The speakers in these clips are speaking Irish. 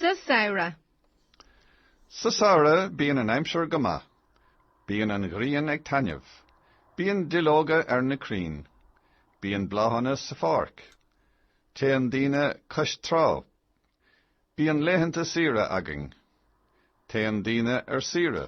Sa samhradh. Sa samhradh bíonn an aimsir go maith. Bíonn an ghrian ag taitneamh. Bíonn duilleoga ar na crainn. Bíonn bláthanna sa pháirc. Téann daoine cois trá. Bíonn laethanta saoire againn. Téann daoine ar saoire.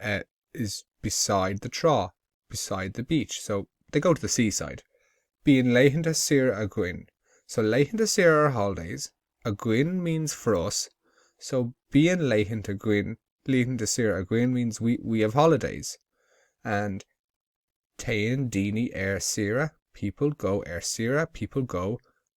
uh, is beside the trá, beside the beach, so they go to the seaside. Bíonn laethanta saoire againn. So laethanta saoire are holidays. Againn means for us. So bíonn laethanta againn, laethanta saoire againn means we, we have holidays. And téann daoine ar saoire, people go ar saoire, people go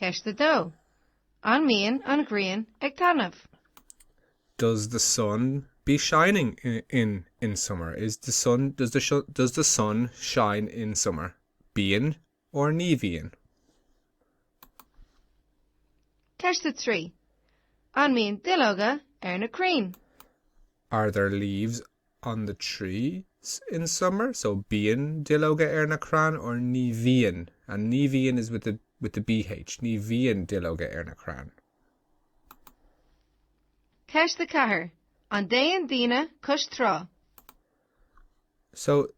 Ceist 2. An mbíonn an ghrian ag taitneamh? Does the sun be shining in in summer? Is the sun does the does the sun shine in summer? Bíonn or Ní bhíonn? Ceist 3. An mbíonn duilleoga ar na crainn? Are there leaves on the trees in summer, so bíonn duilleoga ar na crainn or ní bhíonn and ní bhíonn is with the bh ní bhíonn duilleoga ar na crainn. Ceist 4 An dtéann daoine cois trá? So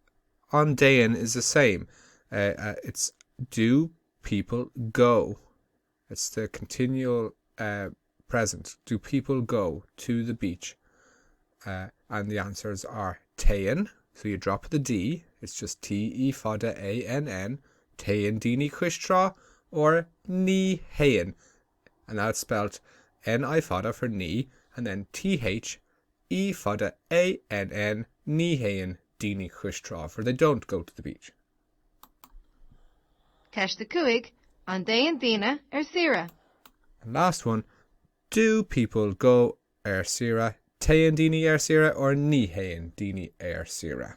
an dtéann is the same. Uh, uh, it's do people go? It's the continual eh present, do people go to the beach eh and the answers are téann, so you drop the D, it's just TE fada AN N, téann daoine cois trá or ní théann and now it's spelt NI fada for ní and then THE fada AN N, ní théann daoine cois trá for they don't go to the beach. Ceist 5, An dtéann daoine ar saoire? And last one, Do people go ar saoire? Téann daoine ar saoire or Ní théann daoine ar saoire?